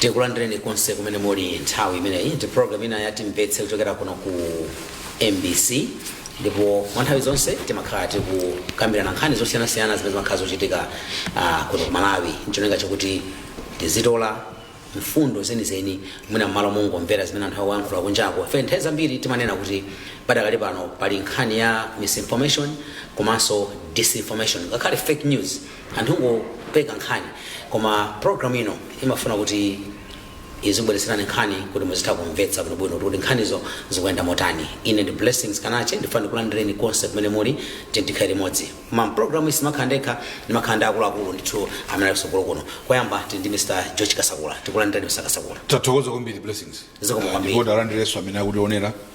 tikulandireni konse kumene muli nthawi imeneyi ndi program ina ya timvetse kuchokera kuno ku mbc ndipo mwa nthawi zonse timakhala tikukambirana nkhani zosiyanasiyana zimene zimakhala zochitika ah, kuno ku malawi ncholinga chakuti tizitola mfundo zenizeni mwina mmalo mongomvera zimene anthu akuyankhula kunjako ife nthawi zambiri timanena kuti padakali pano pali nkhani ya misinformation komanso disinformation ngakhale fake news anthu ongopeka nkhani koma program ino imafuna kuti izibweretserani nkhani kuti muzitha kumvetsa bwinobwino kuti nkhanizo zikuyenda motani ine ndi blessings kanache ndifuna ndikulandireni konse kumene muli tikhala limodzi mu program iyi sindimakhala ndekha ndimakhala ndi akuluakulu ndithu amene ali kutsogolo kuno koyamba tili ndi mr george kasakula tikulandireni mr kasakula tathokoza kwambiri blessings zikomo kwambiri ndipo talandireso amene akutionera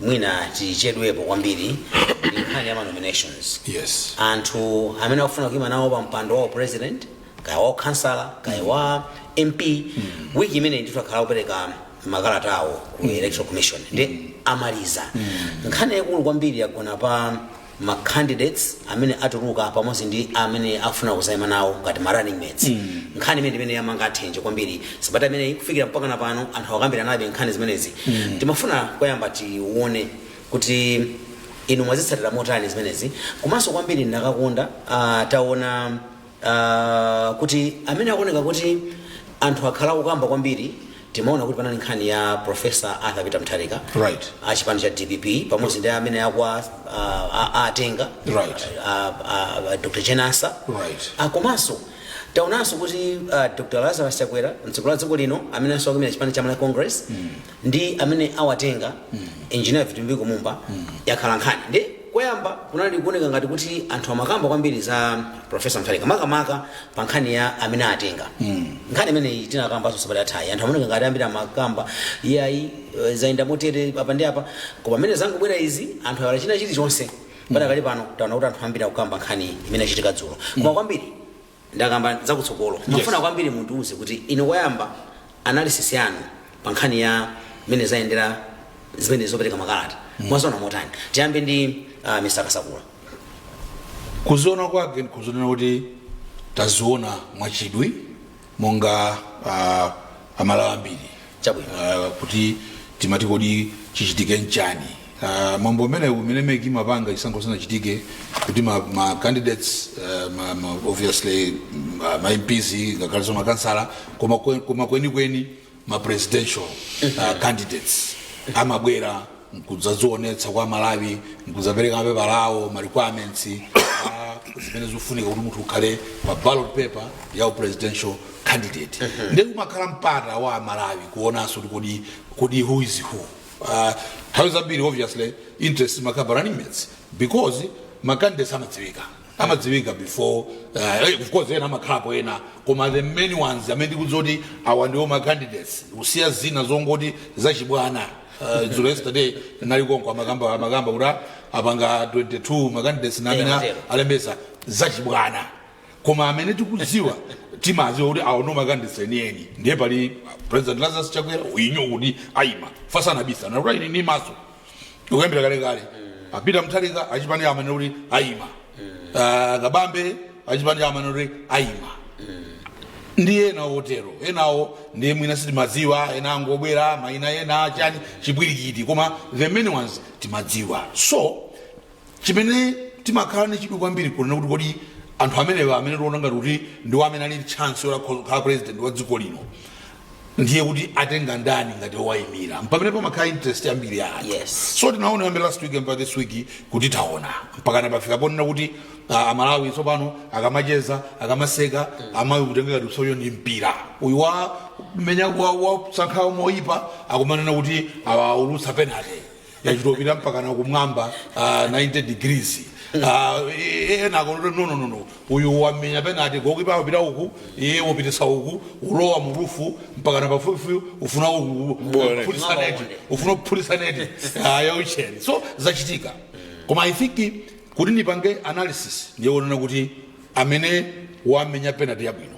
mwina tichedwepo kwambiri ndi nkhani ya ma nominations yes anthu amene akufuna kuima nawo pa mpando wa u president kaya wa ukhansala kaya wa mp wiki imeneyi ndithu akhala akupereka makalata awo ku electoral commission ndiye amaliza nkhani yaikulu kwambiri yagona pa ma candidates amene atuluka pamodzi ndi amene akufuna kuzaima nawo ngati ma running mates mm. nkhani imene imene yamanga athenje kwambiri sabata imeneyi kufikira mpakana pano anthu akukambiranabe nkhani zimenezi mm. timafuna koyamba tione kuti inu mwazitsatira motani zimenezi komanso kwambiri ndakakonda uh, taona uh, kuti amene akuoneka kuti anthu akhala akukamba kwambiri timaona kuti panali nkhani ya profesa arthur peter mutharika Right. a chipani cha dpp pamodzi ndi amene akwa uh, a- a- atenga Right. a- a- a- dr jane ansah Right. Ah, komanso taonanso kuti uh, dr lazarus chakwera mtsogoleri wa dziko lino amenenso akuimira chipani cha malawi congress ndi amene awatenga engineer vitumbiko mumba yakhala nkhani ndiye koyamba kunali kuoneka ngati kuti anthu amakamba kwambiri za profesa mutharika makamaka pa nkhani ya amene atenga nkhani imeneyi tinakambanso sabata yathayi anthu amaoneka ngati ambiri amakamba iyayi eh, zayenda motere apa ndi apa koma amene zangobwera izi anthu aiwala china chilichonse padakali pano taona kuti anthu ambiri akukamba nkhani imene yachitika dzulo koma kwambiri ndisanakambe zakutsogolo ndimafuna kwambiri mundiuze kuti inu koyamba analysis yanu pa nkhani ya mmene zayendera zimene zopereka makalata mwaziona motani tiyambe ndi uh, mr kasakula kuziona kwake nkuziona kuti taziona mwachidwi monga uh, amalawi ambiri chabwino uh, kuti timati kodi chichitike nchani Uh, mwambo umenewu umene mec imapanga chisankho chisanachitike kuti ma, ma candidates uh, ma, ma, obviously ma, ma mps ngakhalenso makansala koma kwe- koma kwenikweni ma presidential uh, candidates amabwera nkudzazionetsa kwa malawi nkudzapereka mapepa lawo ma requirements uh, zimene zikufunika kuti munthu ukhale pa ballot paper ya u presidential candidate ndiye kumakhala mpata wa malawi kuonanso kuti kodi kodi who is who uh, nthawi zambiri obviously interest imakhala pa running mates because macandidates amadziwika amadziwika before uh, eh, of course ena amakhalapo ena koma the main ones amene tikudziwa kuti awa ndiwo macandidates kusiya zina zongoti zachibwana uh, dzulo yesterday nali konko amakamba amakamba kuti apanga 22 macandidates namene Yeah, zero. alembesa zachibwana koma amene tikudziwa timadziwa kuti awo ndiwo makandideti enieni ndiye pali president lazarus chakwera uyinyo kuti ayima asanabisa nakuti ayini ni maso ukuyambira kalekale a peter mutharika achipani amanena kuti ayima Ah, kabambe achipani amanena kuti ayima ndiye ena otero enawo ndiye mwina sitimadziwa ena angobwera maina ena chani chipwirikiti koma the main ones timadziwa so chimene timakhala ndi chidwi kwambiri kunena kuti kodi anthu amenewa amene tiona ngati kuti ndiwo amene ali chance yokhala president wa dziko lino ndiye kuti atenga ndani ngati owayimira mpamene pamakhala interest yambiri ya anthu Yes. so tinaona kuyambira last week mpaka this week kuti taona mpaka pafika ponena kuti ah, amalawi tsopano akamacheza akamaseka amayitenga ngati usoyo ndi mpira uyu wamenya wa- wasankhawo moyipa akumanena kuti awaulutsa penalty yachitopita mpakana kumwamba uh, 90 degrees Uh, ena akuti no no no no uyu wamenya penalty goalkeeper wapita uku iye wapititsa uku ulowa murufu mpakana pafupifupi ufuna uku kuphulitsa neti ufuna kuphulitsa neti uh, yaucheni so zachitika koma i think kuti nipange analysis ndiyenera kunena kuti amene wamenya penalty yabwino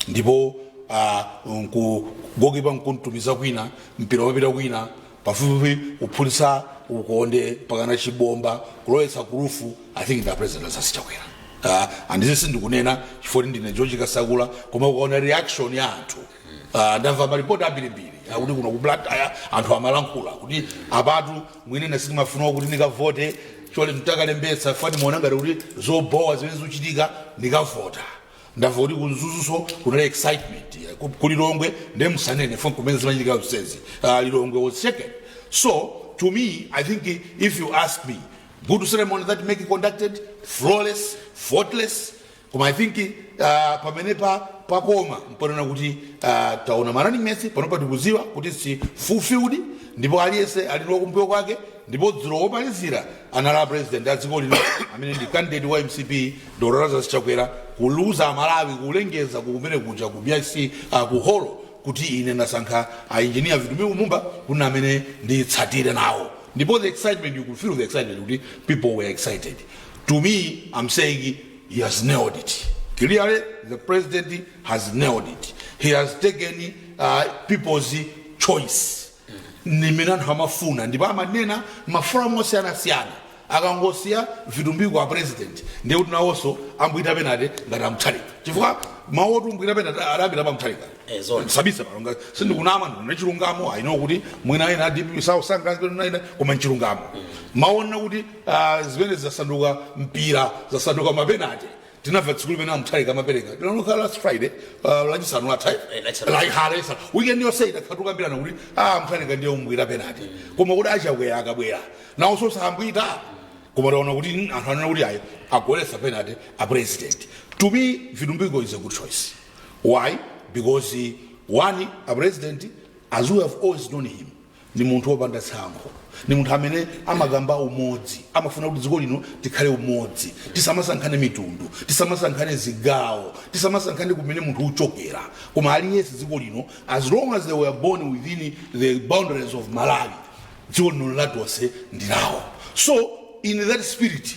ndipo ah, nku goalkeeper nkumutumiza kwina mpira wapita kwina pafupifupi kuphulitsa ukonde mpakana chibomba kulowetsa kurufu i think ndi president lazarus chakwera Ah, and izi sindikunena chifukwa kuti ndine george kasakula koma ukaona reaction ya anthu Ah, ndamva maripoti ambirimbiri akuti kuno ku blantyre anthu amalankhula kuti apatu mwina ine sindimafuna kuti ndikavote chole mtakalembetsa fani ndimaona ngati kuti zobowa zimene zikuchitika ndikavota ndamva kuti ku Mzuzunso kunali excitement eh, ku- ku lilongwe nde musanene poti nkumene zimachitika zonsezi uh, lilongwe was shaken so to me i think i- if you ask me good ceremony that make it conducted flawless faultless koma i think uh, pamenepa pakoma nponena kuti uh, taona ma running mates panopa tikudziwa kuti it's fulfilled ndipo aliyense ali ndi wakumbuyo kwake ndipo dzulo womalizira anali a president a dziko lino amene ndi candidate wa mcp Dr Lazarus Chakwera kuwauza aMalawi kulengeza kumene kuja ku BICC uh, ku holo kuti ine ndasankha a engineer Vitumbiko Mumba kuti amene nditsatire nawo ndipo the excitement you could feel the excitement kuti people were excited to me I'm saying he has nailed it clearly the president has nailed it he has taken uh, people's choice zimene anthu amafuna ndipo amanena m'maforamu osiyanasiyana Akangosiya Vitumbiko a president ndiye kuti nawonso abwita penate ngati a Mutharika chifukwa mawu oti kubwita penate adayambira pa Mutharika Eh, zoona. sindibisa pano nanga sindikunama ndinena chilungamo I know kuti mwina ena a DPP sasangalala koma nchilungamo mawona kuti ah, zimenezi zasanduka mpira zasanduka mapenate tinamva tsiku limene a Mutharika amapereka tinangokhala last friday uh, Lachisanu latha Eh, Lachisanu. lahalesa weekend yonse tidakhala tukambirana kuti a Mutharika ndiye abwita penate koma kuti a Chakwera akabwera nawonso sabwita koma taona kuti mm, anthu anena kuti ayi agoletsa penate a president to me Vitumbiko is a good choice why because uh, one a president as we have always known him ndi munthu wopanda tsankho ndi munthu amene amakamba umodzi amafuna kuti dziko lino tikhale umodzi tisamasankhane mitundu tisamasankhane zigawo tisamasankhane kumene munthu uchokera koma aliyense dziko lino as long as they were born within the boundaries of Malawi dziko lino nlatonse ndi lawo so in that spirit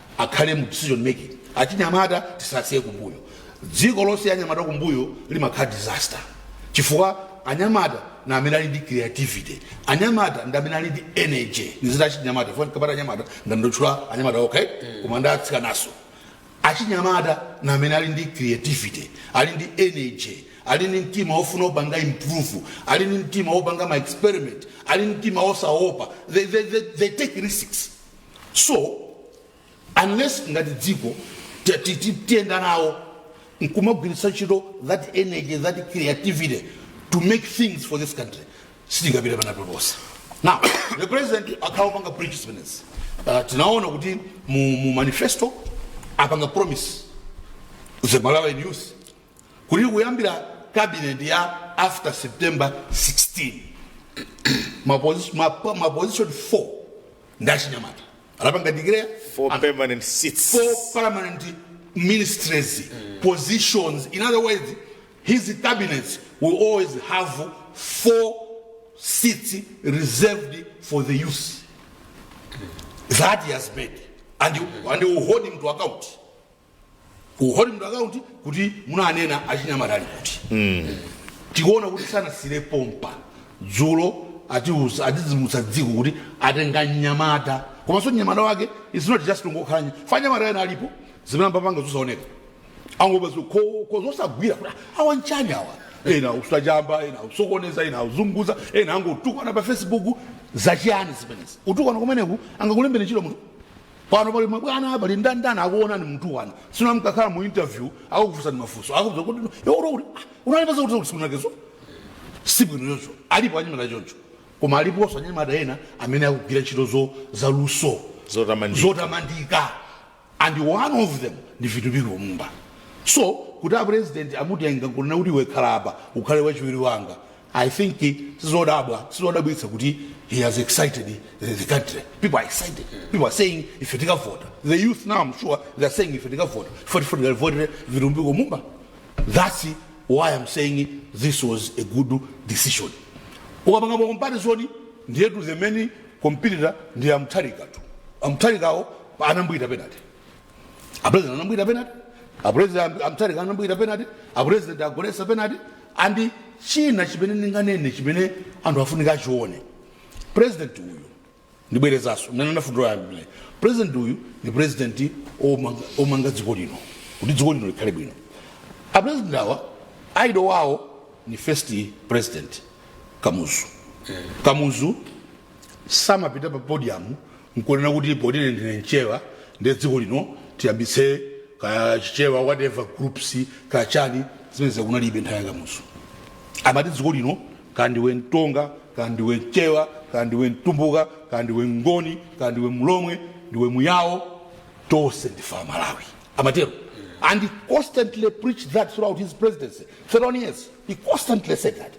akhale mu decision making achinyamata tisasiye kumbuyo dziko losiya anyamata kumbuyo limakhala disaster chifukwa anyamata ndi amene ali ndi creativity anyamata ndi amene ali ndi energy ndiziti achinyamata chifukwa ndikamati anyamata ndangotchula anyamata okay koma ndi atsikananso achinyamata ndi amene ali ndi creativity ali ndi energy ali ndi mtima wofuna kupanga improve ali ndi mtima wopanga ma experiment ali ndi mtima wosaopa they, they, they, they take risks so unless ngati dziko ti- ti- ti- tiyenda nawo nkumagwiritsa ntchito that energy that creativity to make things for this country sitingapite pena paliponse now the president akhala akupanga preach zimenezi uh, tinaona kuti mu, mu manifesto apanga promise the Malawian youth kuti kuyambira cabinet ya after september 16 maposi- mapa- maposition 4 ndi achinyamata anapanga declare for and permanent seats four permanent ministries positions in other words his cabinets will always have four seats reserved for the youth that he has made and, and he will hold him to account will hold him to account kuti munanena achinyamata ali kuti tikuona kuti sanasiyire pompa dzulo atiuza adzidzimutsa dziko kuti atenga mnyamata komanso mnyamata wake is not just ngokhala nya- fa anyamata ena alipo zimene amapanga zosaoneka angoba zikoko zosagwira kuti awa nchani awa ena usachamba ena usokoneza ena uzunguza ena angotukwana pa facebook zachiyani zimenezi utukwana kumeneku angakulembere ntchito munthu Pano pali mabwana pali ndandanda akuonani mutukwana. Tsono mkakhala mu interview akukufunsani mafunso. Akukuuza kuti yo uri uri unali pasa kuti kusuna kezo. Si bwino choncho. Alipo anyamata achoncho. Koma aliponso anyamata ena amene akugwira ntchito zo za luso. Zotamandika. Zotamandika. And one of them ndi Vitumbiko Mumba. So kuti a president amutenga kunena kuti iwe khala apa ukhale wachiwiri wanga. I think sizodabwa sizodabwitsa kuti he has excited the, the country. People are excited. People are saying if you take a vote, the youth now I'm sure they are saying if you take a vote, for for the vote, Virumbiko Mumba. That's why I'm saying this was a good decision. Ukapanga pa comparison ndiye to the many competitor ndi amtharika tu. Amtharikawo anambwita penalty. apresident anambwita penalty apresident a mutharika anambwita penalty apresident agoletsa penalty and china chimene ndinganene chimene anthu afunika achione president uyu ndibwerezaso mene ndafundula yambile president uyu ni president omanga- omanga dziko lino kuti dziko lino likhale bwino apresident awa idol wawo ni first president kamuzu kamuzu samapita pa podium nkunena kuti poti ine ndine mchewa ndiye dziko lino tiyambitse kaya chichewa whatever groups kaya chani zimenezo kunalibe nthawi ya kamuzu amati dziko lino kandiwe mtonga kandiwe mchewa kandiwe mtumbuka kandiwe mngoni kandiwe mlomwe ndiwe muyawo tonse ndife amalawi amatero and he constantly preached that throughout his presidency 31 years he constantly said that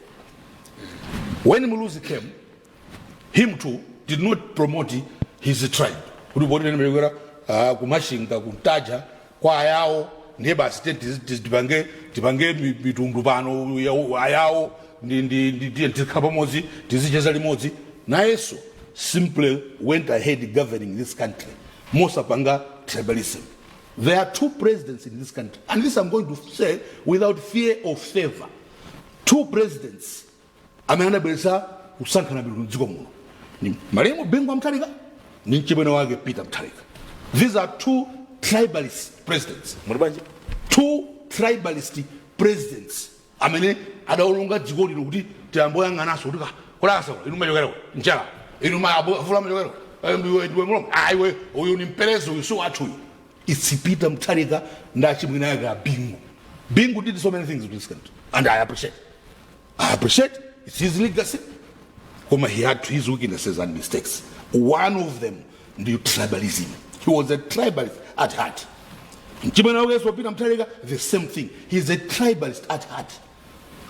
when muluzi came him too did not promote his tribe kuti poti ine ndimachokera uh, ku machinga ku ntaja kwa ayawo ndiye basi te- tiz- tiz- tipange tipange mi- mitundu pano ya- ayawo ndi- ndi- ndi- tiye tikhala pamodzi tizicheza limodzi nayenso simply went ahead governing this country mosapanga tribalism there are two presidents in this country and this i'm going to say without fear or favor two presidents amene anabweretsa kusankhana mitundu mdziko muno ni malemu bingu wa mutharika ni mchimwene wake peter mutharika these are two tribalist presidents muli bwanji two tribalist presidents amene adaononga dziko lino kuti tiyamboyang'ananso kuti kulasa inu machokera njala inu mavula machokera ndiwe ndiwe mulomwe ah iwe uyu ni mperezi uyu si wathu uyu it's peter mutharika ndi achimwene ake a bingu bingu did so many things in this country and i appreciate i appreciate its his legacy koma he had his weaknesses and mistakes one of them ndi tribalism he was a tribalist at heart mchimwene wake yesu a peter mutharika the same thing he is a tribalist at heart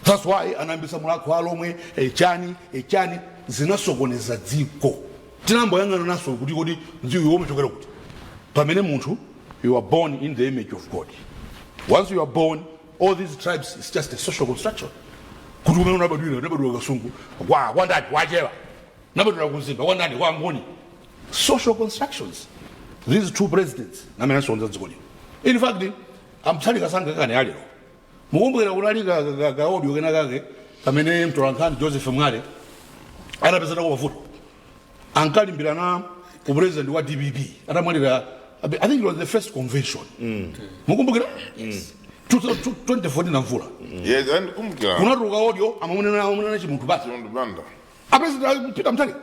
that's why anayambisa mulhako wa alhomwe echani echani zinasokoneza dziko sitinamboyang'ana naso kuti kodi nzathuwo amachokera kuti pamene munthu you are born in the image of god once you are born all these tribes is just a social construction kuti umene unabadwira unabadwira kasungu kwa kwa ndani kwa chewa unabadwira ku mzimba kwa ndani kwa ngoni social constructions these two presidents amene asokoneza dziko lino in fact a mutharika sangakane lero mukumbukira kunali ka- ka- ka- kaaudio kena kake kamene mtolankhani joseph mwale anapeza nako mavuto ankalimbirana upresident wa dpp atamwalira abe- i think it was the first convention mukumbukira 2014 a mvula Yes, ndakumbuka. kunatuluka kaaudio amamunena amamunena chimunthu ba- Chimunthu Banda. apresident peter mutharika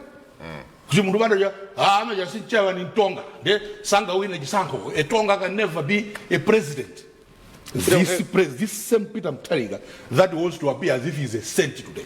chimunthu banda cha "Ah, amene uja si mchewa ni mtonga nde sangawine chisankho a tonga can never be a president this, pres this same peter mutharika that wants to appear as if he is a saint today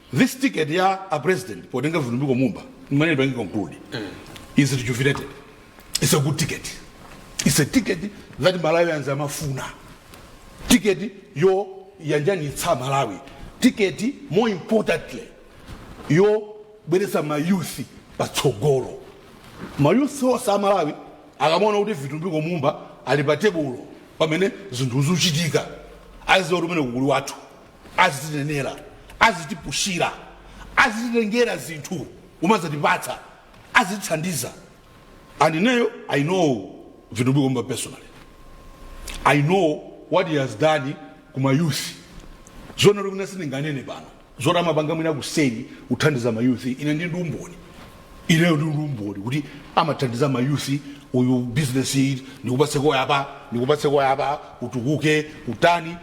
This ticket ya a president potenga vitumbiko mumba mmene ndipange conclude it's rejuvenated it's a good ticket it's a ticket that malawians amafuna ticket yo yanjanitsa malawi ticket more importantly yo bweretsa mayuthi patsogolo mayuthi onse a malawi akamaona kuti vitumbiko mumba ali pa tebulo pamene zinthu zikuchitika aziwa kuti uja ndi mkulu wathu azitinenera azitipushira azititengera zinthu kumazatipatsa azitithandiza and ineyo i know vitumbiko mumba personally i know what he has done ku mayouth zina zomwe sindinganene pano zoti amapanga mwina kuseri kuthandiza mayuthi ine ndili ndi umboni ineyo ndili ndi umboni kuti amathandiza mayuthi uyu business iyi ndikupatseko apa ndikupatseko apa utukuke utani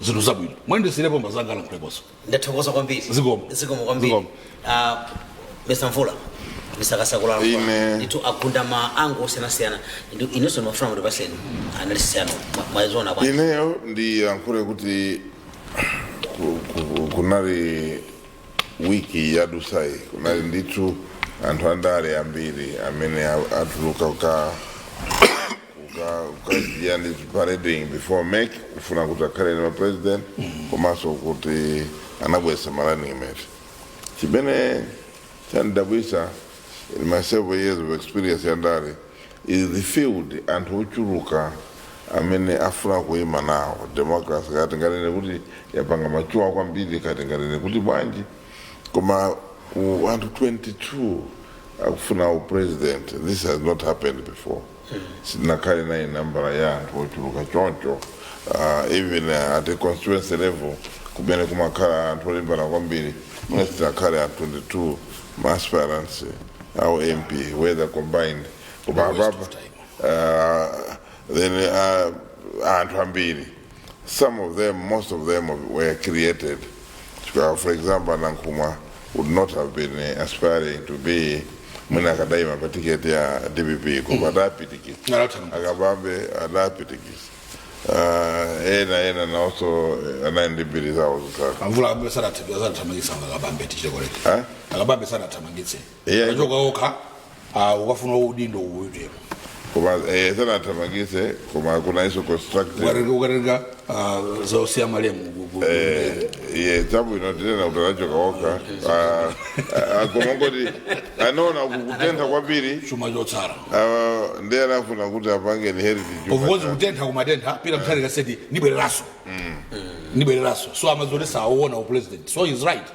zinthu zabwino mwina ndisiirepo apa azanga alankhuleponso ndathokoza kwambiri Zikomo. zikomo kwambiri Zikomo. Ah, mister mvula mister kasakula Ine. ndithu agunda ma angle osiyanasiyana Ndi- inenso ndimafuna mutipatseni analysis yanu mwaziona bwanji ineyo ndiyankhule kuti ku- ku- kunali wiki yadutsayi kunali ndithu anthu andale ambiri amene a- atuluka ka kukhala ndi parading before make kufuna kuti akhale ma president komanso kuti anabweretsa ma running mate chimene chandidabwisa in my several years of experience yandale is the field anthu ochuluka amene afuna kuima nawo democracy kati nganene kuti yapanga mature kwambiri kati nganene kuti bwanji koma ku anthu 22 akufuna upresident this has not happened before sitinakhale naye nambala ya anthu ochuluka choncho uh, even uh, at a constituency level kumene kumakhala anthu olimbana kwambiri mwina sitinakhale a 22 maaspirants a ump whether combined koma apapa uh, then uh, anthu ambiri Some of them, most of them were created. Chifukwa, for example, a Nankhumwa would not have been uh, aspiring to be mwina akadaima pa tiketi ya dpp koma adapitikitsa Nalotana. a Kabambe adapitikitsa uh, ena ena naonso eh, anali ndi mbiri zawo zosaka Amvula a Kabambe sanathamangitsidwe a Kabambe tichite correct. Eh? A Kabambe sanathamangitsidwe. Eya, anachoka okha ah, kukafuna udindo uwitero koma eh, sanathamangitsidwe koma kunaliso constructive ukatenga ukatenga ah, zosiya malemu ku- ku- Eh, ye chabwino tinene kuti anachoka okha Ah, ah, koma kungoti anaona kukutentha kwambiri chuma chotsala ah, ndiye anafuna kuti apange inherit chuma of course cha- kutentha kumatentha Peter Mutharika said ndibwereranso ndibwereranso so amadziwa kuti sauona upresident so he's right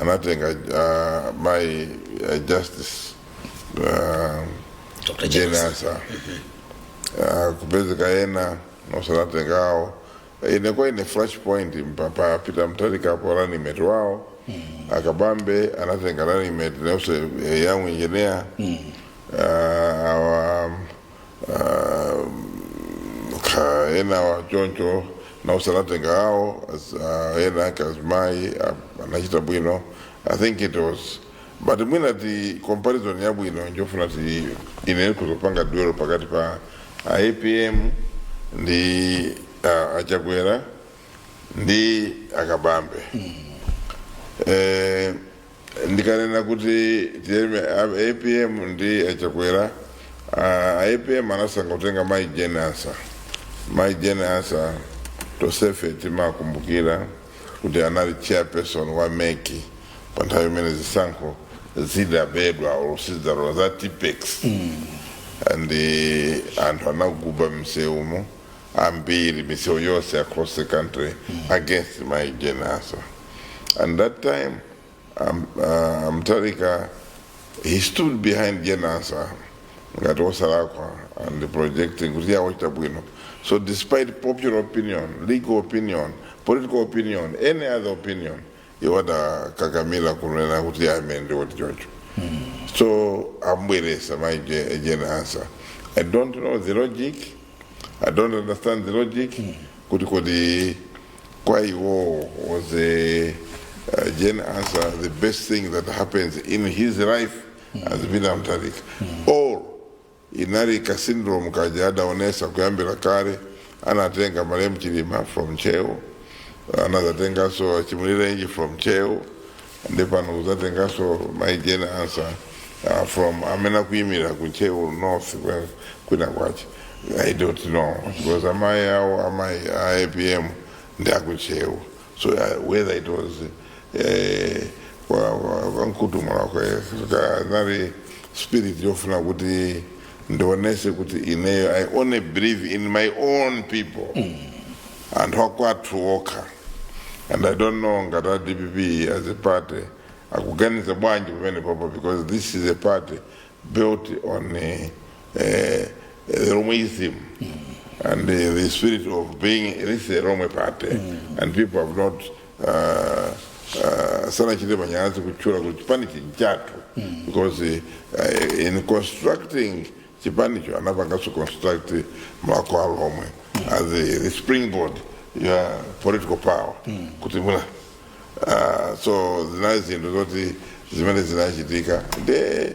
anatenga uh, my uh, justice uh, Dr. Jane James. Ansah uh, kupezeka yena nosanatenga awo inekuwa ine flash point mpapa pita mtalika apo running mate wao akabambe anatenga running mate nose eh, young engineer uh, our Ah, ka enawa choncho nawo sanatenga awo as- ah, ena azimayi anachita bwino i think it was but mwina the comparison yabwino ndikufuna kuti ine kudzapanga dwell pakati pa apm ndi ah, a Chakwera ndi a Kabambe eh, ndikanena kuti tiyambe a- apm ndi a Chakwera a- a apm anasankha kutenga mai Jane Ansah mai Jane Ansah tonsefe timakumbukira kuti anali chairperson wa MEC pa nthawi imene zisankho zidabedwa or zisankho za tipex and anthu anaguba m'misewumo ambiri misewu yonse across the country against mai Jane Ansah And that time, um, uh, Mutharika, he stood behind Jane Ansah, ngati osalakwa, and projecting kuti iye wachita bwino. So despite popular opinion, legal opinion, political opinion, any other opinion, iwo adakakamira kunena kuti iye amene ndi woti chocho. So ambweretsa mai Je- Jane Ansah. I don't know the logic. I don't understand the logic. Kuti kodi kwa iwowo was the uh, Jane Ansah the best thing that happens in his life has been a Mutharika or inali ka syndrome kaja adaonesa kuyambira kale anatenga marehemu Chilima from Ntcheu anazatenganso a Chimulirenji from Ntcheu nde pano kudzatenganso mai jane Ansah uh, from amene akuyimira ku Ntcheu North kwe- kwina kwache i don't know because amayi awo amayi a apm ndi aku Ntcheu so uh, whether it was eh, kwa- kwa- kwa mkutumula kwe kanali spirit yofuna kuti ndionese kuti ineyo i only believe in my own people anthu akwathu okha and i don't know ngati a dpp as a party akuganiza bwanji pamene papa because this is a party built on eh, eh, the romoism and eh, the spirit of being this is a rome party and people have not ah, ah, sanachite manyazi kutchula kuti chipani nchathu because eh, in constructing chipanicho anapanganso construct Mulhako wa Alhomwe as the, the springboard ya political power kutumula ah, so zinali zinthu zoti zimene zinachitika nde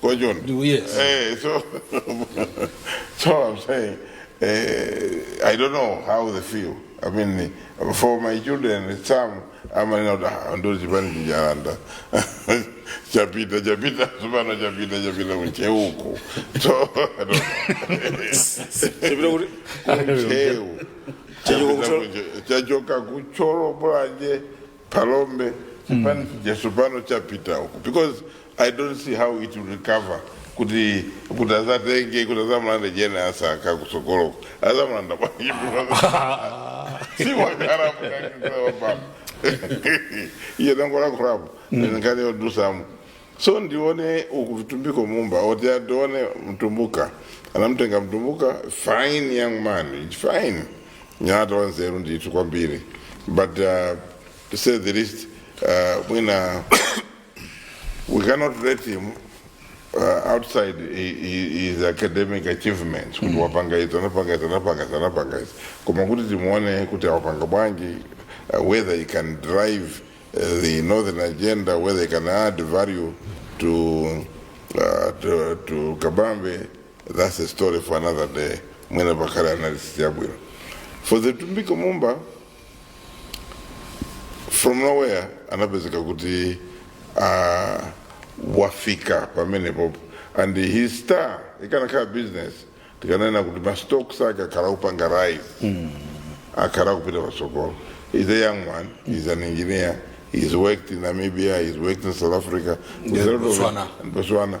What you want? Do yes. Hey, so, so I'm saying, uh, I don't know how they feel. I mean, for my children, some I'm not ndi chipani chija alanda chapita chapita tsopano chapita chapita ku Ntcheuko so I don't Chapita kuti- ku Ntcheu Chachoka ku Thyo- chachoka ku Thyolo Mulanje phalombe chipani chija tsopano chapita uko because i don't see how it will recover kuti kuti azatenge kuti azamulande Jane Ansah kutsogoloko azamulanda siwakaramukaaa iye ndangolankhulapo nkhani yodutsamo so ndione uku Vitumbiko Mumba oti atione mtumbuka anamtenga mtumbuka fine young man fine mnyamata wanzeru ndithu kwambiri but uh, to say the least uh, mwina we cannot rate him uh, outside hi- hi- his academic achievements kuti wapanga izi anapanga izi anapanga izi anapanga izi koma kuti timuone kuti awapanga bwanji uh, whether he can drive uh, the northern agenda whether he can add value to, uh, to, to kabambe That's a story for another day. Mwina pakhale analysis yabwino. For Vitumbiko Mumba, from nowhere anapezeka kuti uh, wafika pamenepopo and his star ikanakhala business tikanena kuti mastocks ake akhala kupanga rise mm. akhala kupita patsogolo he's a young man he's an engineer he's worked in namibia he's worked in south africa With a lot of- Botswana. and botswana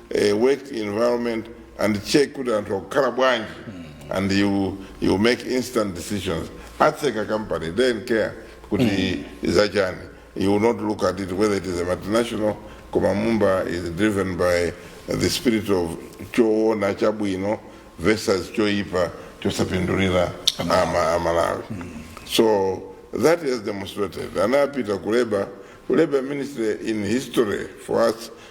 eh, work environment and check kuti anthu akukhala bwanji and you, you make instant decisions atseka company don't care kuti ndi zachani he will not look at it whether it is a multinational koma mumba is driven by the spirit of choona chabwino versus choipa chosapindulira ama- amalawi so that is demonstrated anapita ku labour ministry is history for us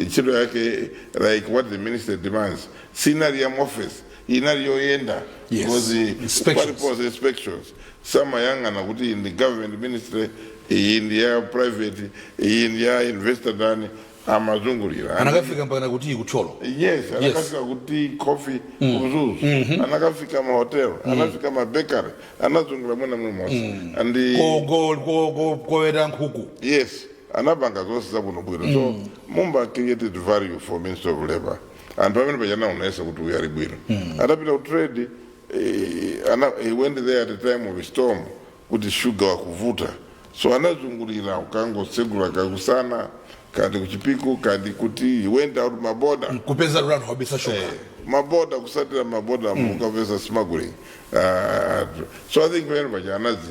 Ntchito yake like what the minister demands sinali ya muoffice inali yoyenda Yes. because Inspections. paliponse inspections samayang'ana kuti iyi ndi government ministry iyi ndi ya private iyi ndi ya investor ndani amazungulira anakafika mpaka kuti kuthyolo yes anakafika kuti coffee kumzuzu anakafika mahotel anafika mabakery anazungulira mwina monse and koweta nkhuku yes anapanga zonse zabwino bwino mm. so mumba created value for ministry of labor and pamene paja anaonesa kuti uyu ali bwino mm. atapita kutrade eh, ana, he went there at the time of a storm kuti shuga akuvuta so anazungulira akangotsegula kaya kusana kaya ndi kuchipiku kaya ndi kuti he went out maboda kupeza anthu obisa shuga eh, maboda kutsatira maboda mm. kukapeza smuggling uh, so i think pamene paja anazi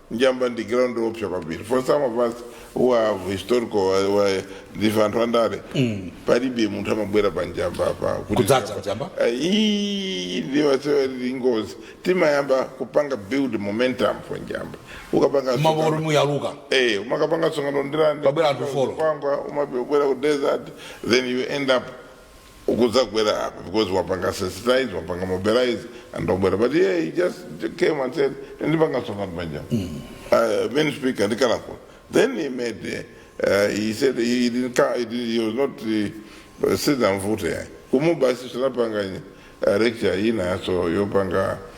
njamba ndi ground yoopsa kwambiri for some of us who have historical wa- wa- ndife anthu andale palibe munthu amabwera pa njamba apa kuti- Kudzadza njamba? Eh, ii, ndiwosewera ndi ngozi timayamba kupanga build momentum for njamba ukapanga mopanda kuti muyaluka Eh, umakapanga msonkhano kundirande Pabwera anthu follow. bangwe umabwera ku desert then you end up ukudzagwera apa because wapanga sensitize wapanga mobilize and wabwera but yeah, he just came and said ndipanga msonkhano panjamba uh, main speaker ndikakhalapo then he made uh, he said he didn't ca- he, did, he was not uh, sidamvute kumuba si tinapanga uh, lecture ina so yopanga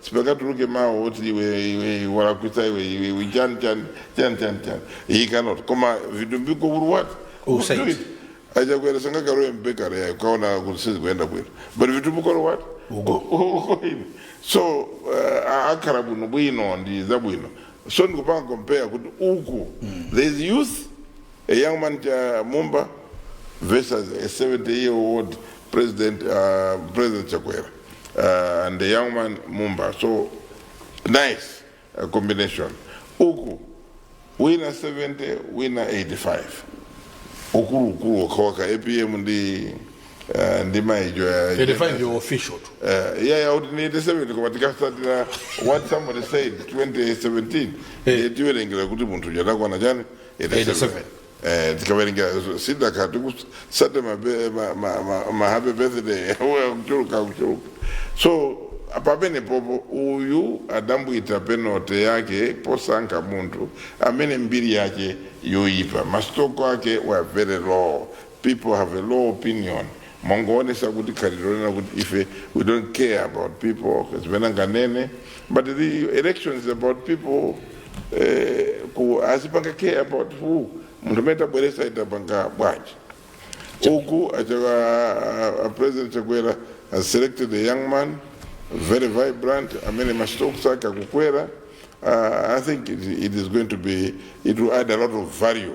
sipakatuluke mawu oti iwe iwe walakwitsa iwe iwe iwe chani chani chani chani chani he cannot koma vitumbiko will what Will say it. achakwera sangakalowe m'bakery akaona kuti sizikuenda bwino but vitumbiko will what Uko ine. so uh, kukhala bwinobwino ndi zabwino so ndikupanga compare kuti uku there is youth a young man cha mumba versus a 70 year old president uh, president chakwera uh, and the young man Mumba. So nice uh, combination. Uku wina 70 wina 85 ukulu ukulu wakawaka apm ndi uh, ndi maijo ya 85 yo official tu Uh, yeah, yeah, out in 87 koma tikasatira what somebody said 2017 Eh. tiwerengera kuti munthu uja takwana chani 87 Eh, tikawerengera zaka titsate mabe- ma- ma- ma- ma happy birthday Uwe kuchuluka kuchuluka so pamene apapa uyu adabwita penate yake posankha munthu amene mbiri yake yoyipa masitoko ake were very low people have a low opinion mwangoonesa kuti khalidwe lina kuti ife we don't care about people zimene anganene but the election is about people eh, kuti azipanga care about who munthu amene tabweretsa itapanga bwanji uku acha- a- a president chakwera has selected a young man very vibrant amene mastocks ake akukwera uh, i think it, it is going to be it will add a lot of value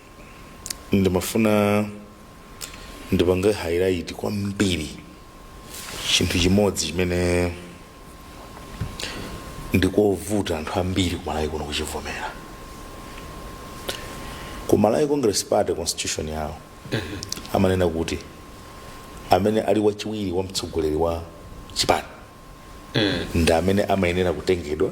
ndimafuna ndipange highlight kwambiri chinthu chimodzi chimene ndikovuta anthu ambiri kumalawi kuno kuchivomera kumalawi congress party constitution yawo amanena kuti amene ali wachiwiri wa mtsogoleri wa chipani ndi amene amayenera kutengedwa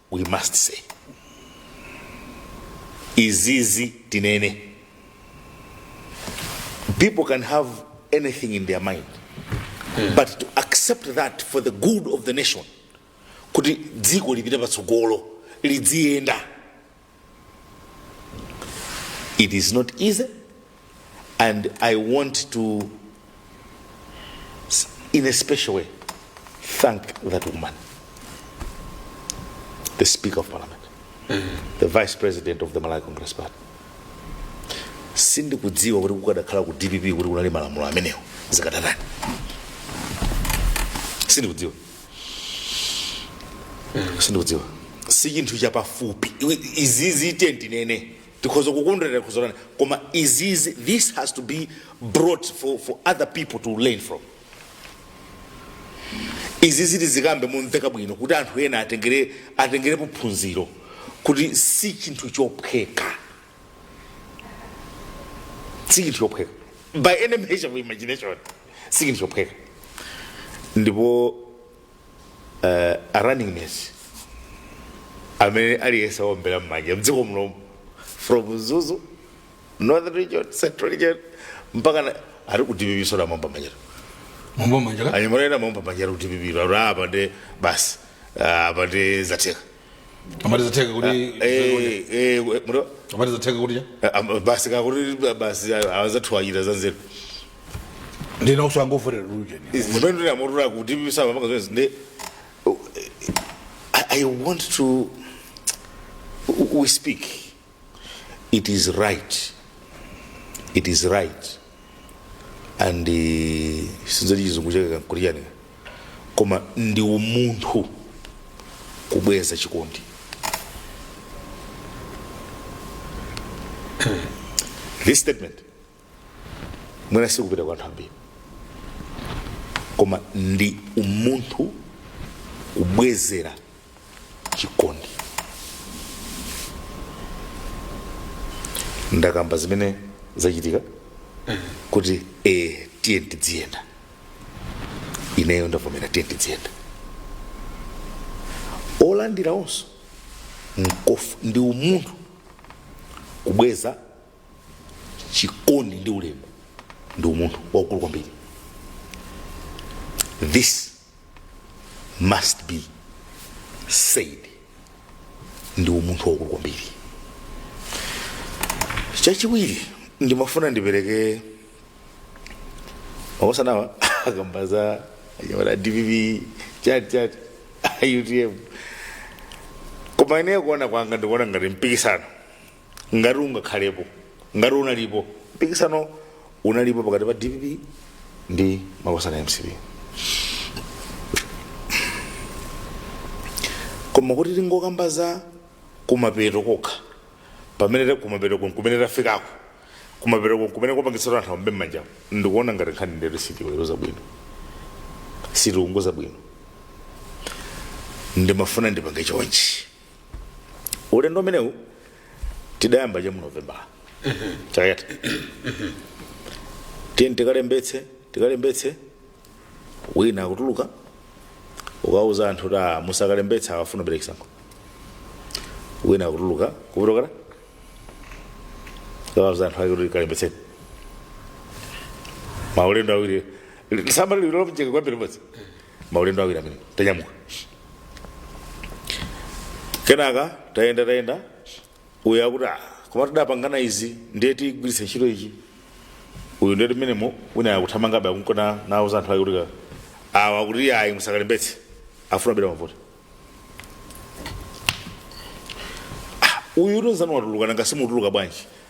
we must say izizi tinene people can have anything in their mind but to accept that for the good of the nation kuti dziko lipite patsogolo lidziyenda It is not easy, and I want to, in a special way, thank that woman, the Speaker of Parliament, the Vice President of the Malawi Congress Party. sindikudziwa kuti kukadakhala ku dpp kuti kunali malamulo amenewo zikadatani sindikudziwa sindikudziwa si chinthu chapafupi Iwe- izizi tiye ndinene tikhoza kukondwerera kuzolana koma izizi this has to be brought for, for other people to learn from izi ziti zikambe momveka bwino kuti anthu ena atengere atengerepo phunziro kuti si chinthu chophweka si chinthu chophweka by any measure of imagination sichinthu chophweka ndipo uh, a running mate amene aliyense awombera mmanja mdziko muno from mzuzu northern region central region mpaka na- ali ku dpp soda momba manjero mumbo manja ka anyamorera momba manjero ku dpp aro apa nde basi ah, apa nde zatheka amati zatheka kuti Eh, eh, muto- amati zatheka kuti cha ah, ah, basi kakuti basi azathuwa achita zanzeru ndina kuti angofotera lujeni zimene ndinamotula kuti bisaba maka zonse ndi I, i want to we speak it is right it is right and eh, sinzoti chizungu chake kuliyanika koma ndi umunthu kubweza chikondi this statement mwina sikupita kwa anthu ambiri koma ndi umunthu kubwezera chikondi ndakamba zimene zachitika kuti eh, tiye tidziyenda ineyo ndavomera tiye tidziyenda olandira nawonso nkof- ndi umunthu kubweza chikondi ndi ulemu ndi umunthu waukulu kwambiri this must be said ndi umunthu waukulu kwambiri chachiwiri ndimafuna ndipereke makosanawa akamba za anyamata dpp chati chati utm koma ineyo kuona kwanga ndikuona ngati mpikisano ngati ungakhalepo ngati unalipo mpikisano unalipo pakati pa dpp ndi makosana mcp koma kuti tingokamba za kumapeto kokha pamene ta kumapeto kumene tafikako kumapeto kumene kwapangitsatu anthu aombe m'manja ndikuona ngati nkhani ndetu sitiweruza bwino sitiunika bwino ndimafuna ndipange chonchi ulendo umenewu tidayamba cha mu novembala chaka chatha tiyeni tikalembetse tikalembetse wina akutuluka kukauza anthu kuti "Ah, musakalembetsa awa afuna abere chisankho wina akutuluka kupita kukauza anthu ake kuti kalembetseni maulendo awiri samba lililopjeka kwambiri modzi maulendo awiri amene tanyamuka kenaka tayenda tayenda uyu akuti "Ah, koma tidapangana izi ndiye tigwiritse ntchito ichi uyu ndiye timenemo wina akuthamangabe akunka nauza anthu ake kuti awa akuti ayi musakalembetse afuna abera mavoti uyu utonzani watuluka nanga simutuluka bwanji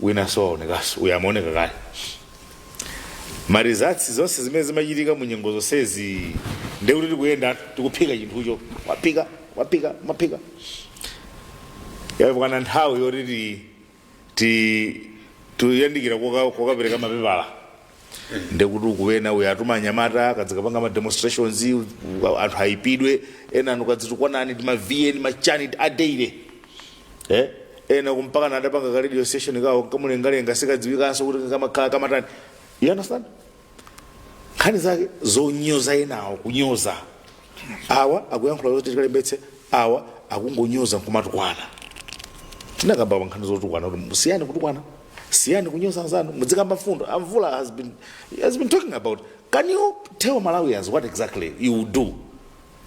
winanso waonekanso uyu amaoneka kale marizatsi zonse zimene zimachitika mu nyengo zonsezi ndiye kuti tikuyenda tikuphika chinthucho taphika taphika taphika yakwana nthawi yoti ti- ti- tikuyandikira koka- kokapereka mapepala nde kuti ukuona uyo atuma anyamata akadzikapanga ma demonstrations u- anthu aipidwe ena inu kadzitukwanani ndi ma vn machani a daily eh ena kumpaka na adapanga ka radio station kawo kamulengalenga sikadziwikanso kuti kamakhala kamatani you understand nkhani zake zonyoza enawo kunyoza awa akuyankhula zoti tikalembetse awa akungonyoza nkumatukwana tinakamba pa nkhani zotukwana kuti musiye kutukwana siyani kunyoza anzanu mudzikamba mfundo a Mvula has been talking about can you tell malawians what exactly you will do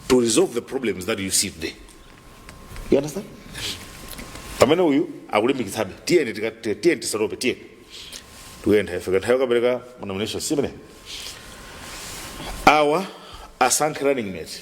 to resolve the problems that you see today you understand pamene uyu akulimbikitsabe tiyeni tika- ti- tiyeni tisatope tiyeni tikuyenda ifika nthawi kupereka nomination simene awa asankhe running mate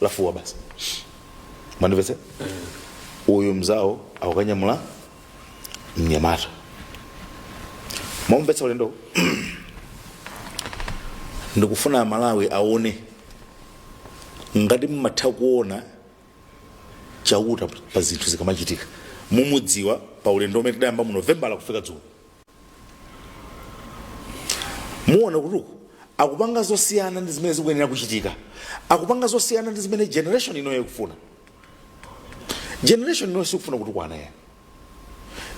lafuwa basi mwandimvetsa uyu mzawo akukanyamula mnyamata mwamvetsa ulendo ndikufuna amalawi aone ngati mmatha kuona chauta pa zinthu zikamachitika mukudziwa pa ulendo umene tidayamba mu novembala kufika dzulo muona kuti uku akupanga zosiyana ndi zimene zikuyenera kuchitika akupanga zosiyana ndi zimene generation inoyi ikufuna generation inoyi sikufuna kutukwana ayi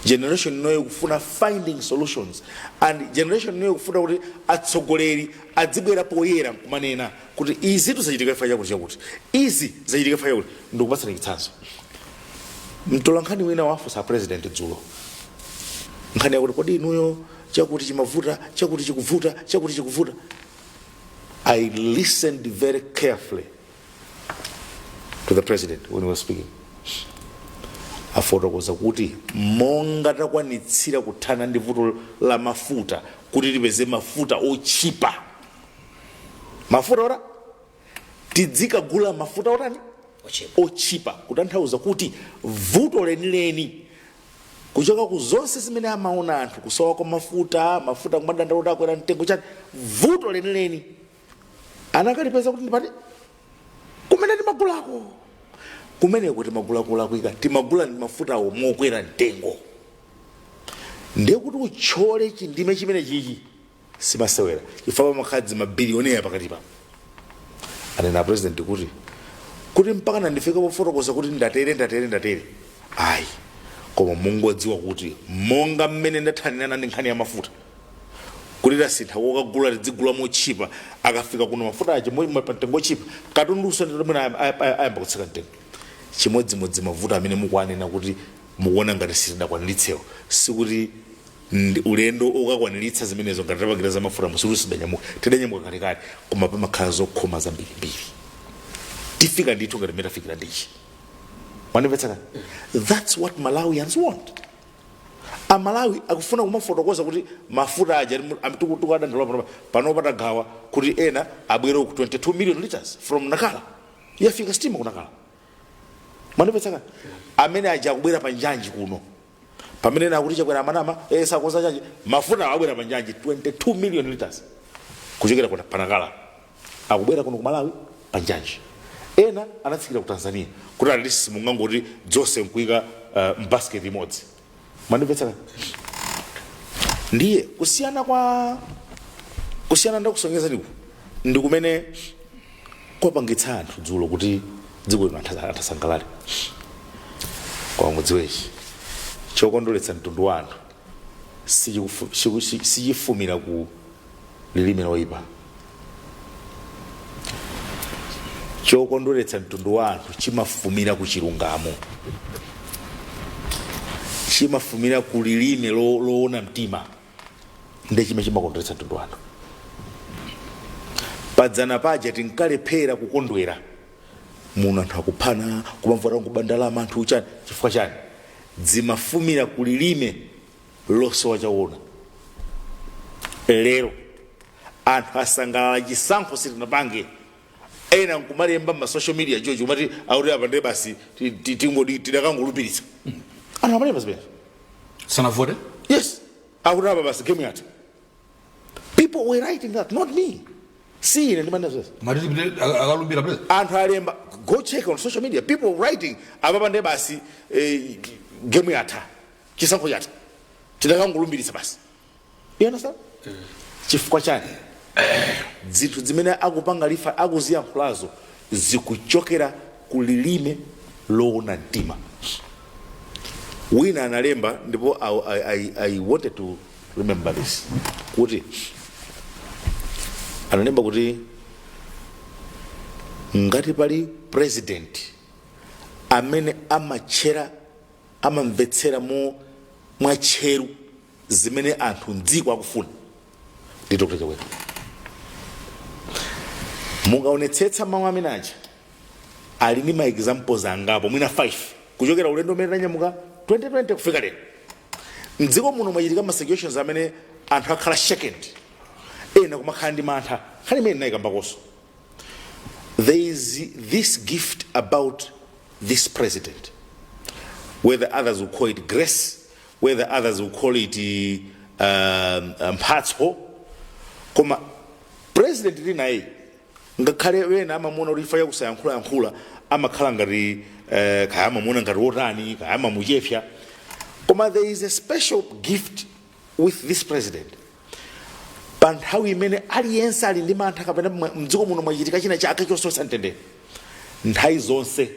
generation inoyi ikufuna finding solutions and generation inoyi ikufuna kuti atsogoleri adzibwera poyera nkumanena kuti izitu zachitika chifukwa chakuti chakuti izi zachitika chifukwa chakuti ndikupatsani chitsanzo mtolankhani wina wafunsa president dzulo nkhani yakuti kodi inuyo chakuti chimavuta chakuti chikuvuta chakuti chikuvuta i listened very carefully to the president when he was speaking afotokoza kuti monga takwaniritsira kuthana ndi vuto la mafuta kuti tipeze mafuta otchipa mafuta oti tidzikagula mafuta otani otchipa kutanthauza kuti vuto lenileni kuchoka ku zonse zimene amaona anthu kusowa kwa mafuta mafuta kumadandaula kuti akwera mtengo chani vuto lenileni anakalipeza kuti ndi pati kumene timagulako kumeneko timagula kulakwika timagula ndi mafutawo mokwera mtengo ndiye kuti utchole chindime chimene chichi simasewera chifukwa pamakhala zimabilionea pakati pao anena a president kuti kuti mpaka nandifika pofotokoza kuti ndatere ndatere ndatere ayi koma mungodziwa kuti monga mmene ndathanirana ndi nkhani ya mafuta kuti tasintha kokagula tidzigula motchipa akafika kuno mafuta aja mtengo otchipa katundu uyonso mwina ayam- ayam- ayam- ayamba kutsika mtengo chimodzimodzi mavuto amene mukuanena kuti mukuona ngati sitidakwaniritsewo sikuti ndi ulendo okakwaniritsa zimenezo ngati tapangira za mafuta musikuti sitidanyamuke tidanyamuka kalekale koma pamakhala zokhoma zambirimbiri tifika ndithu ngati mmene tafikira ndichi mwandimvetsa that's what malawians want amalawi akufuna kumafotokoza kuti mafuta aja ali mu- am- tuku- tuku adandaula pano- pano patagawa kuti ena abwere ku 22 million liters from Nacala yafika sitima ku Nacala mwandimvetsa amene aja akubwera pa njanji kuno pamene ena akuti chakwera amanama eh, sakonza njanji mafuta abwera pa njanji 22 million liters kuchokera ku pa nakala akubwera kuno ku malawi pa njanji ena anatsikira ku tanzania kuti alilisi mungangoti dzonse nkuika uh, mbasket imodzi mandimvetsera ndiye kusiyana kwa kusiyana ndakusonyezaniku ndi kumene kwapangitsa anthu dzulo kuti dziko lino anthu asa- anthu asangalale koma mudziwechi chokondweretsa mtundu wa anthu sichikufu- chiku- chi- sichifumira ku lilime loyipa chokondweretsa mtundu wa anthu chimafumira ku chilungamo chimafumira ku lilime lo- loona mtima ndi chimene chimakondweretsa mtundu wa anthu padzana paja tinkalephera kukondwera muno anthu akuphana kumavuta kuba ndalama anthu uchani chifukwa chani dzimafumira ku lilime losowa choona lero anthu asangalala chisankho sitinapange ena nkumalemba mma social media joji kumati akuti apa ndiye basi ti- ti- tingodi tidakangolumbiritsa anthu amalemba zimene sanavote yes akuti apa basi game yatha people were writing that not me si ine ndimanena zezi matiti pite akalumbira pite anthu alemba go check on social media people writing apapa ndiye basi eh, game yatha chisankho chatha tidakangolumbiritsa basi you understand chifukwa chani zinthu zimene akupanga lifa akuziyankhulazo zikuchokera ku lilime loona mtima wina analemba ndipo I, I, I, i wanted to remember this kuti analemba kuti ngati pali president amene amatchera amamvetsera mo mwatcheru zimene anthu mdziko akufuna ndi dr chakwera mukaonetsetsa mawu amene aja ali ndi maexamples angapo mwina 5 kuchokera ulendo umene tanyamuka 2020 kufika lero mdziko muno mwachitika ma situations amene anthu akhala shaken ena kumakhala ndi mantha nkhani imene ndinayikambakonso there is this gift about this president whether others will call it grace whether others will call it um, mphatso koma president tili naye ngakhale wena amamuona kuti chifukwa chakusayankhulayankhula amakhala ngati eh, kaya amamuona ngati wotani kaya amamuchepsa koma there is a special gift with this president pa nthawi imene aliyense ali ndi mantha kapena mwa- mdziko muno mwachitika china chake chososa mtendere nthawi zonse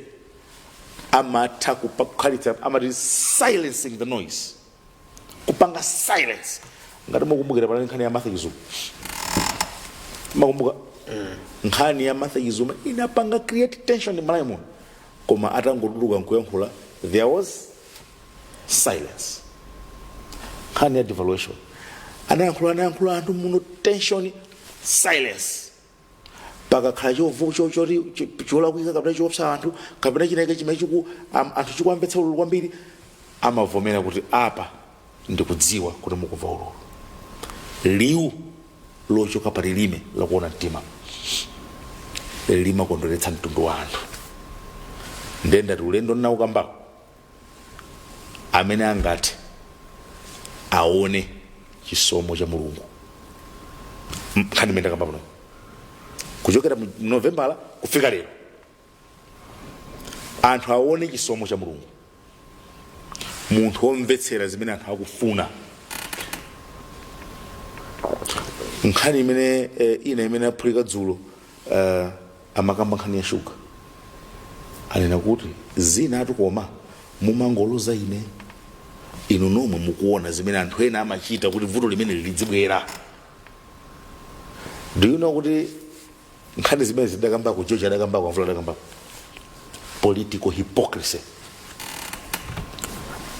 amatha kupa- kukhalitsa amati silencing the noise kupanga silence ngati mukumbukira panali nkhani ya martha chizuma mukumbuka nkhani ya martha chizuma inapanga create tension malawi muno koma atangotuluka nkuyankhula there was silence nkhani ya devaluation anayankhula anayankhula anthu muno tension silence pakakhala chovu- cho- choti- cho- cholakwika kapena chiopsa anthu kapena chinachake chimene chiku- am- anthu chikuwamvetsa ululu kwambiri amavomera kuti apa ndikudziwa kuti mukumva ululu liwu lochoka pa lilime lakuona mtima limakondweretsa mtundu wa anthu nde ndati ulendo ndinaukambako amene angati aone chisomo cha mulungu nkhani imene ndakamba pano kuchokera mu novembala kufika lero anthu aone chisomo cha mulungu munthu womvetsera zimene anthu akufuna nkhani imene eh, ina imene aphulika dzulo eh, amakamba nkhani ya shuga anena kuti zinazi tu koma mumangoloza ine inu nomwe mukuona zimene anthu ena amachita kuti vuto limeneli lidzibwera do you know kuti nkhani zimene zidakambako george adakambako amvula adakambako political hypocrisy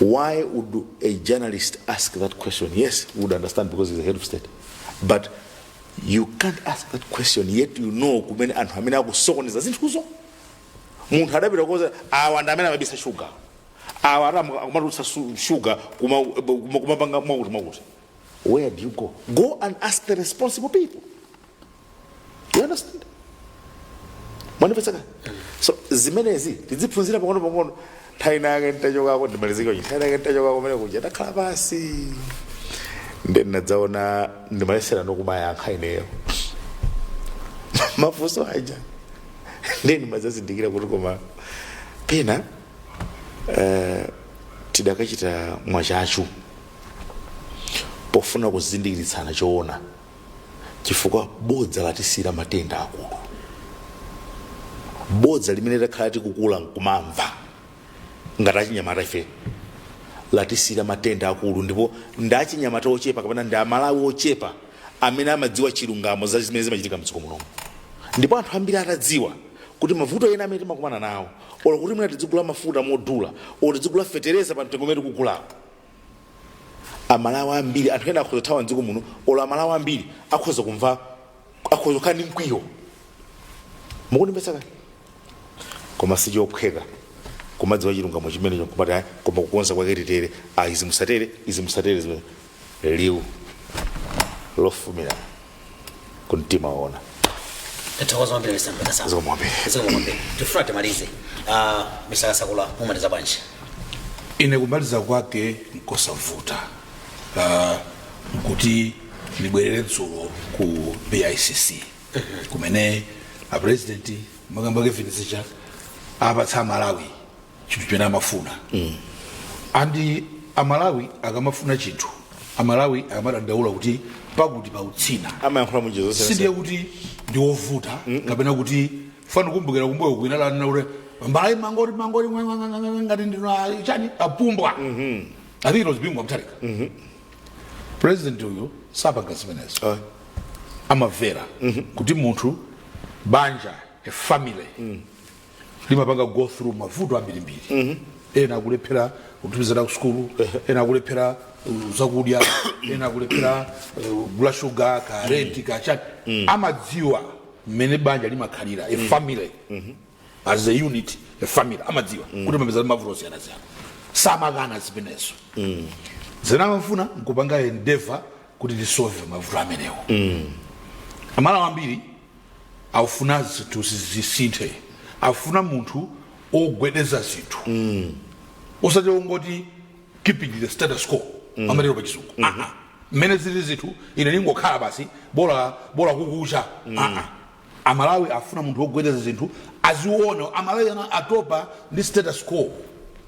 why would a journalist ask that question yes we would understand because he's a head of state but you can't ask that question yet you know kumene anthu amene akusokoneza zinthuzo munthu adapita koza awa ndi amene amabisa shuga awa ati amu- akumatulutsa su- shuga kuma- kuma- kumapanga mwakuti mwakuti where do you go go and ask the responsible people you understand mwamvetsetsa so zimenezi tidziphunzira pang'ono pang'ono nthawi ina yake nditachokako ndimalizike uchi nthawi ina yake nditachokako kumene kuja ndakhala pansi nde ndinadzaona ndimayeserano kumayankha ineyo mafunso aja nde ndimadzazindikira kuti koma pena eh, tidakachita mwachachu pofuna kuzindikiritsana choona chifukwa bodza latisiyira matenda akulu bodza limene takhala tikukula nkumamva ngati achinyamata ife latisiyira matenda akulu ndipo ndi achinyamata ochepa kapena ndi amalawi ochepa amene amadziwa chilungamo za zimene zimachitika mdziko munomu ndipo anthu ambiri atadziwa kuti mavuto ena amene timakumana nawo olo kuti mwina tidzigula mafuta modula olo tidzigula fetereza pa mtengo umene tikugulawo amalawi ambiri anthu ena akhoza kuthawa mdziko muno olo amalawi ambiri akhoza kumva akhoza kukhala ndi mkwiyo mukundimvetsa kani koma sichophweka kumadziwa chilungamo chimenecho kumati ayi koma kukonza kwake titere ayi izi musatere izi musatere zimene liwu lofumira kumtima waona tathokoza kwambiri mr mkasa Zikomo kwambiri. zikomo kwambiri tifuna timalize Ah, mr kasakula mumaliza bwanji ine kumaliza kwake nkosavuta uh, kuti ndibwerere dzulo ku bicc kumene apresidenti amakamba kevin zija apatsa amalawi chinthu chimene amafuna and amalawi akamafuna chinthu amalawi akamadandaula kuti pakuti pautsina amayankhula munjira zonse sindiye kuti ndiwovuta kapena kuti fana kumbukira kumbuyoku wina ananena kuti mbalayi mangori mangori mwa- mwa- mwa- mwa- mwa- ngati ndinu a- chani apumbwa i think it was bingu wa mutharika president uyu sapanga zimenezo Ah. amavera kuti munthu banja a family limapanga go through mavuto ambirimbiri ena akulephera kutumiza ana ku sukulu ena akulephera uh, zakudya ena akulephera uh, gula shuga ka renti ka chani amadziwa mmene banja limakhalira a family as a unit a family amadziwa kuti amapeza mavuto osiyanasiyana samakana zimenezo zimene amafuna nkupanga endeavor kuti tisolve mavuto amenewo amalawi ambiri akufuna zinthu zisinthe akufuna munthu ogwedeza zinthu osati ongoti keeping the status quo amatero pachizungu Aa. mmene zili zinthu ine ndingokhala basi bola bola kukucha Aa. amalawi afuna munthu ogwedeza zinthu aziona amalawi ana atopa ndi status quo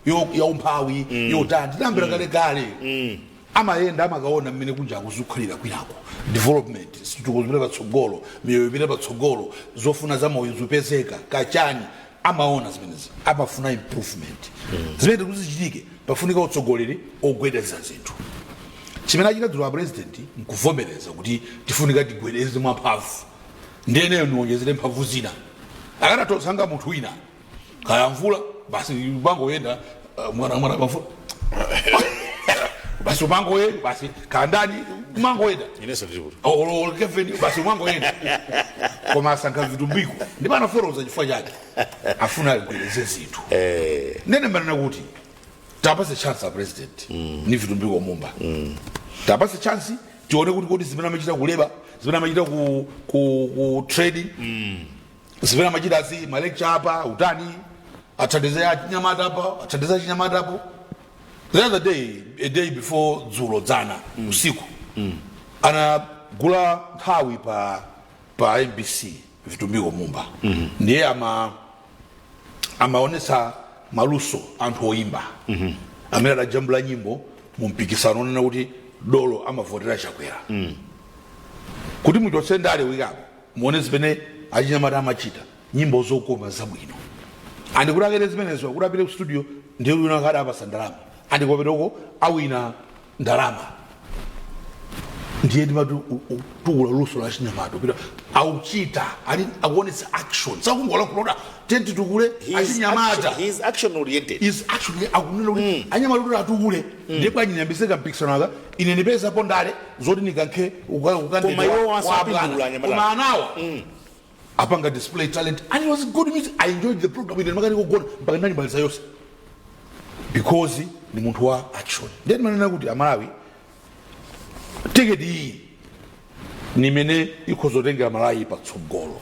yo- yaumphawi yotani tinayambira kale kale amayenda amakaona mmene kunjaku zikukhalira kwinako development zitukuko zipita patsogolo miyoyo ipita patsogolo zofuna za moyo zipezeka kachani amaona zimenezi amafuna improvement zimenezi kuti zichitike pafunika utsogoleri ogwedeza zinthu chimene achita dzulo a president nkuvomereza kuti tifunika tigwedeze mwamphamvu ndiye ineyo niwonjezere mphamvu zina akanatha kusankha munthu wina kaya mvula basi umangoyenda uh, mwana mwana pamvula basi umangoyenda basi kaya ndani umangoyenda inenso ndilipo olo kevin basi umangoyenda koma asankha vitumbiko ndipo anafotokoza chifukwa chake afuna agwedeze zinthu eh, nene manena kuti tiwapatse chance a president ni vitumbiko mumba tiwapatse chance tione kuti kodi zimene amachita ku labour zimene amachita ku, ku, ku trading zimene amachitazi ma lecture apa utani athandize achinyamata apa athandize achinyamata apo the other day a day before dzulo dzana usiku anagula nthawi pa pa mbc vitumbiko mumba ndiye ama amaonesa maluso a anthu oyimba amene adajambula nyimbo mu mpikisano onena kuti dolo amavotera chakwera kuti muchotse ndale wikapo muone zimene achinyamata amachita nyimbo zokoma zabwino and kuti akene zimenezo kuti apite ku studio ndiye wina akati apasa ndalama and kumapetoko awina ndalama ndiye ndimati tukula luso la achinyamata pita akuchita ali akuonetsa action sakungolankhula kuti titukule achinyamata He is action oriented. is actually akunena kuti anyamata kuti atukule ndiye bwanji ndiyambitse kampikisano aka ine nipezapo ndale zoti nikankhe uka- Koma ukandidwa iwo kwa abwana. wasapindula anyamata. koma anawa apanga display talent and it was good music i enjoyed the program ine ndimakanika kugona mpaka ndinayimaliza yonse because ni munthu wa action ndiye ndimanena kuti amalawi tiketi iyi ni imene ikhoza kutengera malawi patsogolo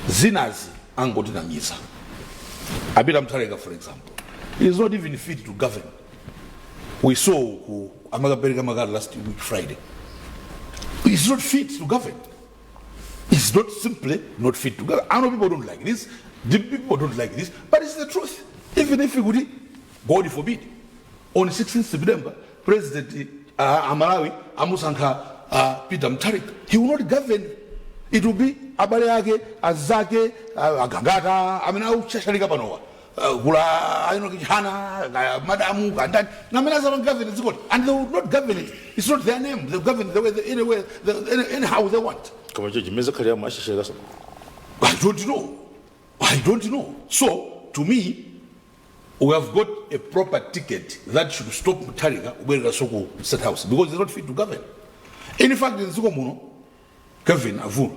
zinazi angotinamiza apita mthalika for example it is not even fit to govern we saw ku amakapereka makati last week friday it is not fit to govern it's not simply not fit to govern i know people don't like this the people don't like this but it's the truth even if kuti god forbid On 16 September president a a Malawi amusankha a Peter Mutharika. He will not govern. It will be abale ake, azake, a- agangata amene akushashalika panowa. Uh, kula ayino kichana ka madamu kandani namene azama govern dziko li. and they will not govern it it's not their name they govern the way they, anywhere the, any, anyhow they want koma icho chimene zakhalira mwashishirikaso I don't know. I don't know. So, to me, u have got a proper ticket that should stop mutharika kubwereranso ku state house because he's not fit to govern in fact mdziko muno kevin avula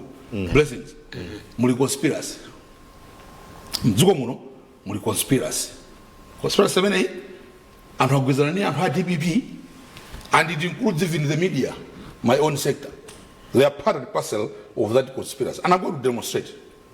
blessings muli conspiracy mdziko muno muli conspiracy conspiracy imeneyi anthu agwirizana ndi anthu a dpp and it includes even the media my own sector they are part and parcel of that conspiracy and i'm going to demonstrate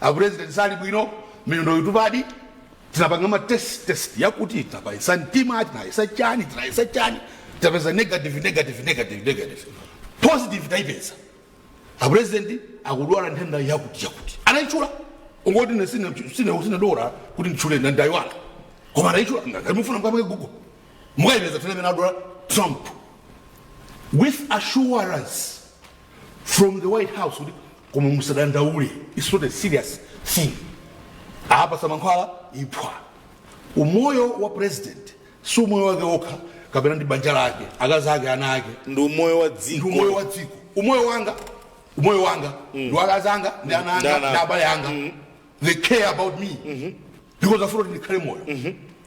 apresident sali bwino miyendo yotupadi tinapanga ma test test yakuti tinapayesa mtima tinayesa chani tinayesa chani tinapeza negative negative negative negative positive taipeza apresident akudwala nthenda yakuti yakuti anayitchula kungoti ine sine sine sine dotolo kuti nditchule na ndayiwala koma anayitchula ngati mufuna mukaone google mukayipeza nthenda imene adwala trump with assurance from the white house kuti koma musadandaule its not a serious thing apasa mankhwala iphwa umoyo wa president si umoyo wake okha kapena ndi banja lake akazi ake ana ake ndi umoyo wa ndi umoyo dziko wa dziko umoyo wanga umoyo wanga ndi wa akazi anga ndi ana Ndi anga ana. ndi abale anga they care about me because afuna kuti ndikhale moyo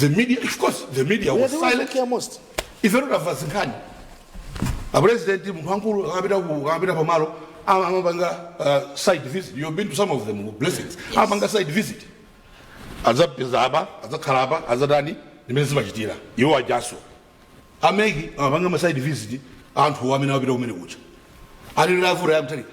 the media of course the media They are was the ones who silent care most. ife totava zinkhani apresident munthu wankulu akapita ku- akapita pamalo ama- amapanga uh, site visit you've been to some of them blessings amapanga site visit adzapeza apa adzakhala apa adzatani ndi mmene zimachitira iwo ajanso ameki amapanga ma site visit anthu amene amapita kumene kucha alilira avuta yamtalika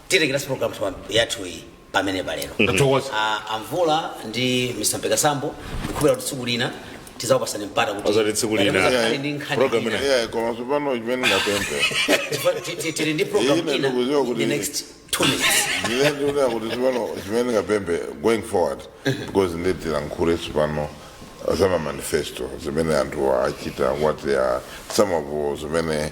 tirekeranso programu twa- yathu iyi pamenepa lero Tathokoza. Ah, a mvula ndi mr mpekasambo ndikhulupira kuti tsiku lina tizakupasani mpata kuti Osati tsiku lina. Tikhale ndi nkhani Program ina. ina. Yeah, koma tsopano chimene ndingapemphe Tipa- ti- ti- tili ndi program Ine ina ndikuziwa in kuti- the next two minutes ndine ndikunena kuti tsopano chimene ndingapemphe going forward because ndi tilankhule tsopano za mamanifesto zimene anthu achita what they are some of zimene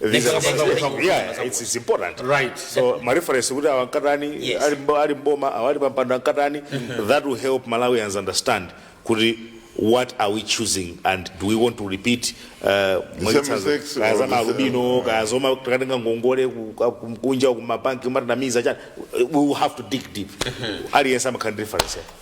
Visa Visa visa visa visa. yeah it's, it's important Right. so my reference kuti awa nkatani Yes. ali mbo- ali mboma awa ali pampando nkatani that will help malawians understand kuti what are we choosing and do we want to repeat uh, mwachitsanzo, mistakes kaya or za the same- maalubino kaya zoma takatenga ngongole ku- ku- kumkunja kumabanki kumatinamiza chani we will have to dig deep aliyense amakhala ndi reference yake.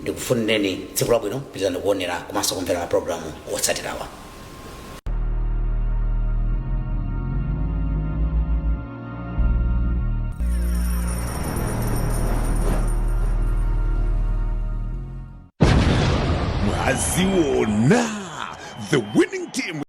ndikufunireni tsiku labwino pitirizani kuonera komanso kumvera mapulogalamu otsatirawa mwaziona the winning team